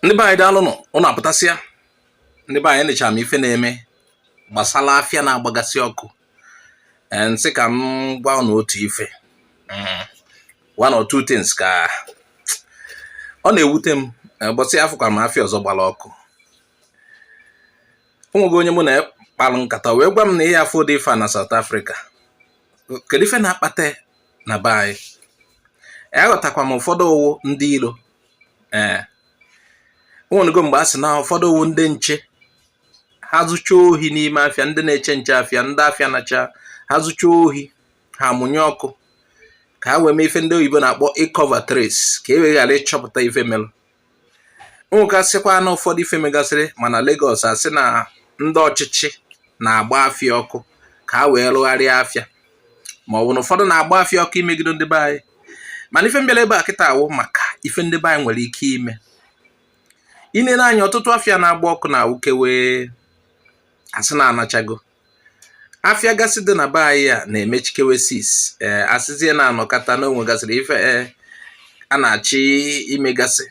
ndị be anyị daalụnụ ụnụ apụtasịa ndị be anyị nechara m ife na-eme gbasara afịa na-agbagasị ọkụ m sị ka m gwa ụnụ otu ife mm. one or two things ka ọ na-ewute m ụbọchị eh, afụkwara m afịa ọzọ gbara ọkụ o nwego onye mụ na ya kpalụ nkata wee gwa m na ya afụdị ife a na South Africa kedu ife na-akpata na be anyị aghọtakwa m ụfọdụ ọ wụ ndị iro ee o nwego mgbe a sị na ụfọdụ ọ wụ ndị nche ha zuchaa ohi n'ime afịa ndị na-eche nche afịa ndị afịa nachaa ha zuchaa ohi ha mụnye ọkụ ka ha wee mee ife ndị oyibo na-akpọ ị cover trace ka e wee ghara ịchọpụta ife melụ o nwegasịkwanụ ụfọdụ ife megasịrị ma na Lagos a sị na ndị ọchịchị na-agba afịa ọkụ ka ha wee rụgharịa afịa ma ọ bụ na ụfọdụ na-agba afịa ọkụ imegido ndị be anyị mana ife m bịara ebe a kịta a wụ maka ife ndị be anyị nwere ike ime i nene anya ọtụtụ afịa na-agba ọkụ na-awụkewe a sị na anachago afịa gasị dị na be anyị a na-emechikewe six ee eh, a sịzie na a nọkata na o nwegasịrị ife eh, a na-achọ imegasị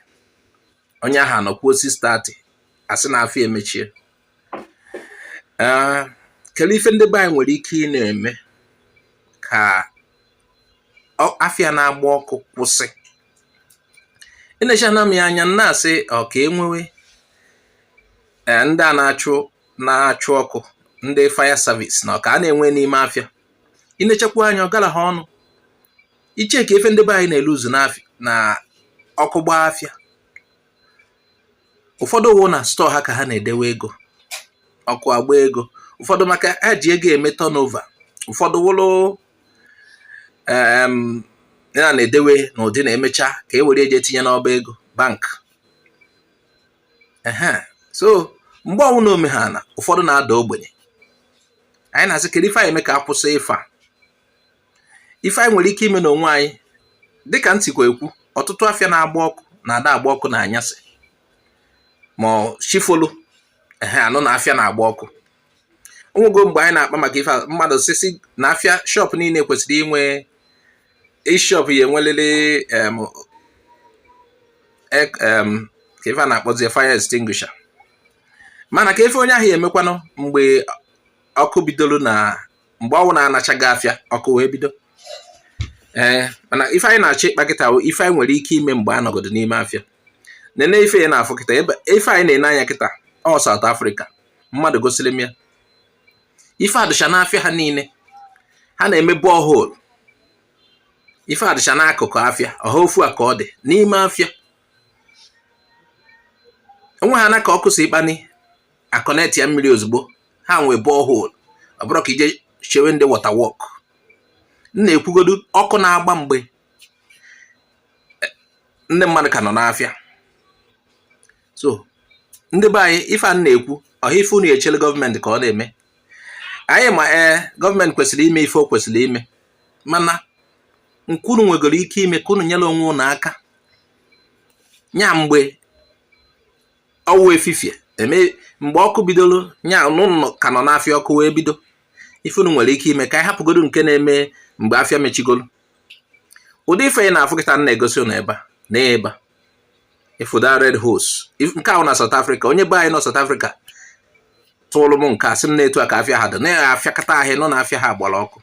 onye ahụ anọkwuo 6:30 a sị na afịa emechie ah, kedu ife ndị be anyị nwere ike ị na-eme ka afịa na-agba ọkụ kwụsị enechaana m ya anya na-asị ọ ka e nwewe eh, ndị a na-achụ na-achụ ọkụ ndị fire service na ọ ka a na-enwe n'ime afịa i nechakwa anya ọ gara ha ọnụ iche ka ife ndị be anyị na-eluuzu na ọkụ gbaa afịa ụfọdụ wụ na store ha ka ha na-edewe ego ọkụ agbaa ego ụfọdụ maka ha ji ego eme turnover ụfọdụ wụlụ ya na-edewe n'ụdị na e mechaa ka e were eje etinye n'ọba ego bank so mgbe ọnwụna o mee ha na ụfọdụ na-ada ogbenye anyị na-asị kedu ife anyị eme ka a kwụsị ife a ife anyị nwere ike ime n'onwe anyị dịka m sikwa ekwu ọtụtụ afịa na-agba ọkụ na-ada agba ọkụ n'anyasị ma chi folu ehe a nụ na afịa na-agba ọkụ o nwego mgbe anyị na-akpa maka ife mmadụ si sị na afịa shop niile kwesịrị inwe each shop ya-enwelili ka ife a na-akpọzi fire extinguisher mana kee ife onye ahụ ya-emekwanụ mgbe ọkụ bidoro na mgbe ọwụ na anachaghị afịa ọkụ wee bido ee eh, mana ife anyị na-achọ ịkpa kịta bụ ife anyị nwere ike ime mgbe a nọgodo n'ime afịa nene ife ị na-afụ kịta ife anyị na-ene anya kịta ọ South Africa mmadụ gosiri m ya ife a dịcha n'afịa ha niile ha na-eme borehole ife a dịcha n'akụkụ afịa ọha ofu a ka ọ dị n'ime afịa o nweha n'aka ọkụ si ịkpani a connect ya mmiri ozugbo ha nwee borehole ọ bụrọ ka e je chewe ndị water work m na-ekwugodu ọkụ na-agba mgbe ndị mmadụ ka nọ n'afịa so ndị be anyị ife a m na-ekwu ọha ife unu ya-echele gọọmenti ka ọ na-eme anyị ma ee eh, gọọmenti kwesịrị ime ife o kwesịrị ime mana nke unu nwegoro ike ime ka unu nyere onwe unu aka nya mgbe ọwụ efifie em mgbe ọkụ bidoro nya na unu ka nọ n'afịa ọkụ wee bido ife unu nwere ike ime ka anyị hapụgodo nke na-eme mgbe afịa mechigoro ụdị ife ị na-afụ kịta m na-egosi ụnụ ebe a na ebe a ị fụ the red hose nke a wụ na South Africa onye be anyị nọ South Africa tụrụ m nke a sị m na etu a ka afịa ha dị na afịakata ahụ a nụ na afịa ha gbara ọkụ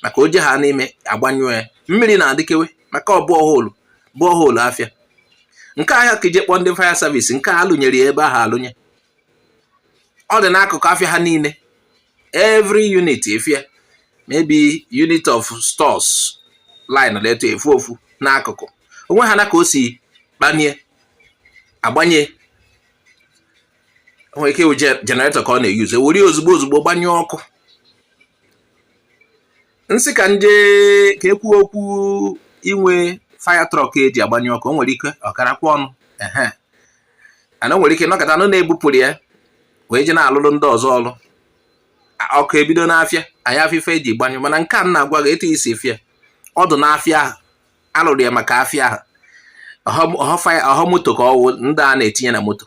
maka o je ha n'ime a gbanyụọ ya mmiri na-adịkewe maka ọ bụ borehole afịa nke a họ ka e je kpọọ ndị fire service nke a a lụnyere ya ebe ahụ alụnye ọ dị n'akụkụ afịa ha niile every unit ị fụ ya maybe unit of stores line ịtọ ị fụ ofu n'akụkụ o nweha n'aka o si kpanie a gbanye nwere ike ịwụ generator ka ọ na-eyuzu e were ozugbo ozugbo gbanyụọ ọkụ m sị ka m je ka ekwu okwu inwe fire truck e ji agbanyụ ọkụ o nwere ike ọ karakwa ọnụ ehe unu nwere ike nọkata unu na-ebupụrụ ya wee je na-alụrụ ndị ọzọ ọlụ ọkụ ebido n'afịa anyị afụ ife e ji gbanyụ mana nke a m na-agwa gị etu i si fụ ya ọ dụ n'afịa ahụ a lụrụ ya maka afịa ahụ ọhọ moto ka ọwụ ndị a na-etinye na moto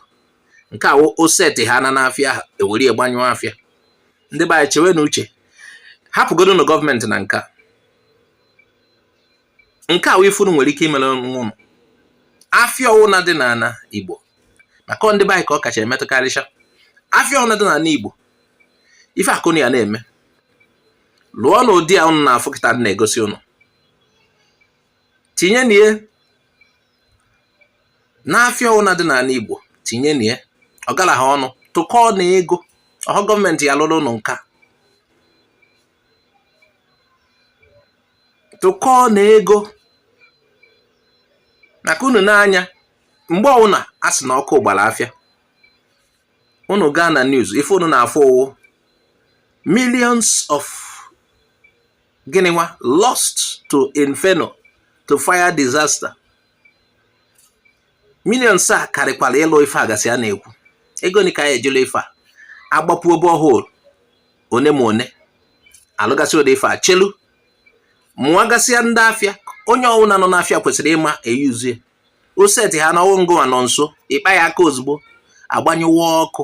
nke a o seti ha na n'afịa ahụ e were ya gbanyụọ afịa ndị be anyị chewenụ uche hapụgodonụ gọọmenti na nka nke a wụ ife unu nwere ike imere onwe unu afịa ọwụna dị n'ana Igbo maka ndị be anyị ka ọ kacha emetụkarịcha afịa ọwụna dị n'ana Igbo ife a ka unu ya na-eme lụọnụ ụdị a ụnụ na-afụ kịta m na-egosi ụnụ tinyenụ ya n'afịa ọwụna dị n'ala Igbo tinyenụ ya ọ garahọ ọnụ tụkọọnụ ego ọhọ gọọmenti ya lụrụ ụnụ nka tụkọọnụ ego maka unu n'anya mgbe ọwụna a sị na ọkụ gbara afịa unu gaa na news ife unu na-afụ ọwụ millions of gịnị nwa lost to inferno to fire disaster millions a karịkwara ịlụ ife a gasị a na-ekwu ego ni ka ya ejela ife a agbapuo borehole one ma one alụgasị ụdị ife a chelu mụagasịa ndị afịa onye ọwụna nọ n'afịa kwesịrị ịma eyuzie oseti ha na ọwụ ngịwa nọ nso ị kpa ya aka ozugbo agbanyụwa ọkụ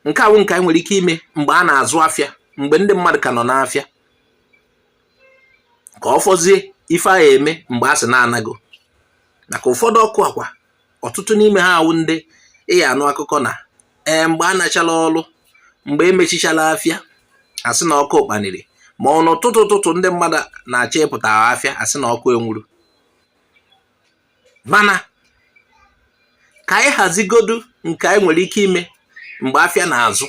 nke awụ nke anyị nwere ike ime mgbe a na-azụ afịa mgbe ndị mmadụ ka nọ n'afịa ka ọ fọzie ife a ya-eme mgbe a sị na a nago maka ụfọdụ ọkụ a kwa ọtụtụ n'ime ha awụ ndị ị ya-anụ akụkọ na ee mgbe a nachala ọrụ mgbe e mechichala afịa a sị na ọkụ kpaniri ma ọ n'ụtụtụ ụtụtụ ndị mmadụ na-achọ ịpụta afịa a sị na ọkụ enwuru mana ka anyị hazigodu nke anyị nwere ike ime mgbe afịa na-azụ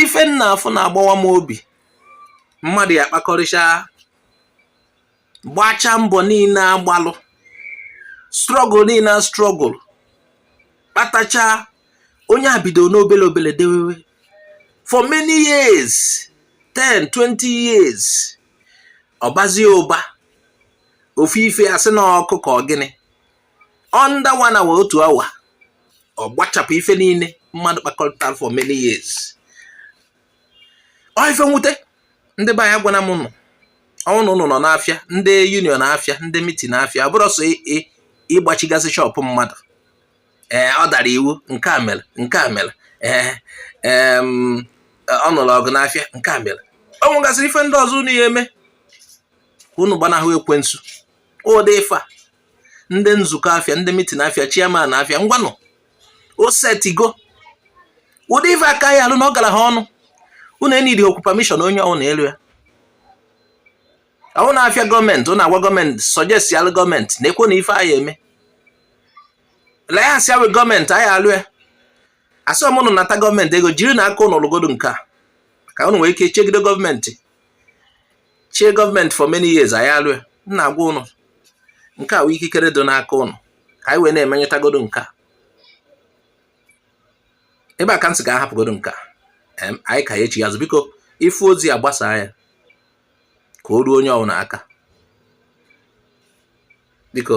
ife m na-afụ na-agbawa m obi mmadụ ya-akpakọrịcha gbachaa mbọ niile a gbalụ struggle niile a struggle kpatacha onye a bido n'obele obele dewewe for many years 10 20 years ọ bazie ụba ofu ife a sị na ọkụ ka ọ gịnị under one hour otu awa ọ gbachapụ ife niile mmadụ kpakọrịtara for many years ọ ife nwute ndị be anyị agwana m ụnụ ọwụ na ụnụ nọ n'afịa ndị union afịa ndị meeting afịa ọ bụrọ sọ ịgbachigasị shop mmadụ ee ọ dara iwu nke a mere nke a mere ee ọ nụrụ ọgụ n'afịa nke a mere ọ nwegasịrị ife ndị ọzọ unu ya eme unu gbanahụ ekwensu ụdị ife a ndị nzukọ afịa ndị meeting afịa chairman afịa ngwanụ o setigo ụdị ife a ka a ya-alụ na ọ garahọ ọnụ unu enidihọkwu permission onye ọwụna elu ya ọwụ na afịa gọọmenti ụnụ agwa gọọmenti suggestialụ gọọmenti nekwanụ ife anyị eme la ya asị a wee gọọmenti anyị alụ ya asị m ụnụ nata gọọmenti ego jiri na aka ụnụ lụgodo nke a ka ụnụ nwee ike chegide gọọmenti chee gọọmenti for many years anyị alụ ya m na-agwa ụnụ nke a wee ikikere dị n'aka ụnụ ka anyị wee na-emenyetagodo nke a ebe a ka m sị ka a hapụgodo nke a anyị ka ya echi azụ biko ị fụ ozi a gbasaa ya ka o ruo onye ọbụla aka biko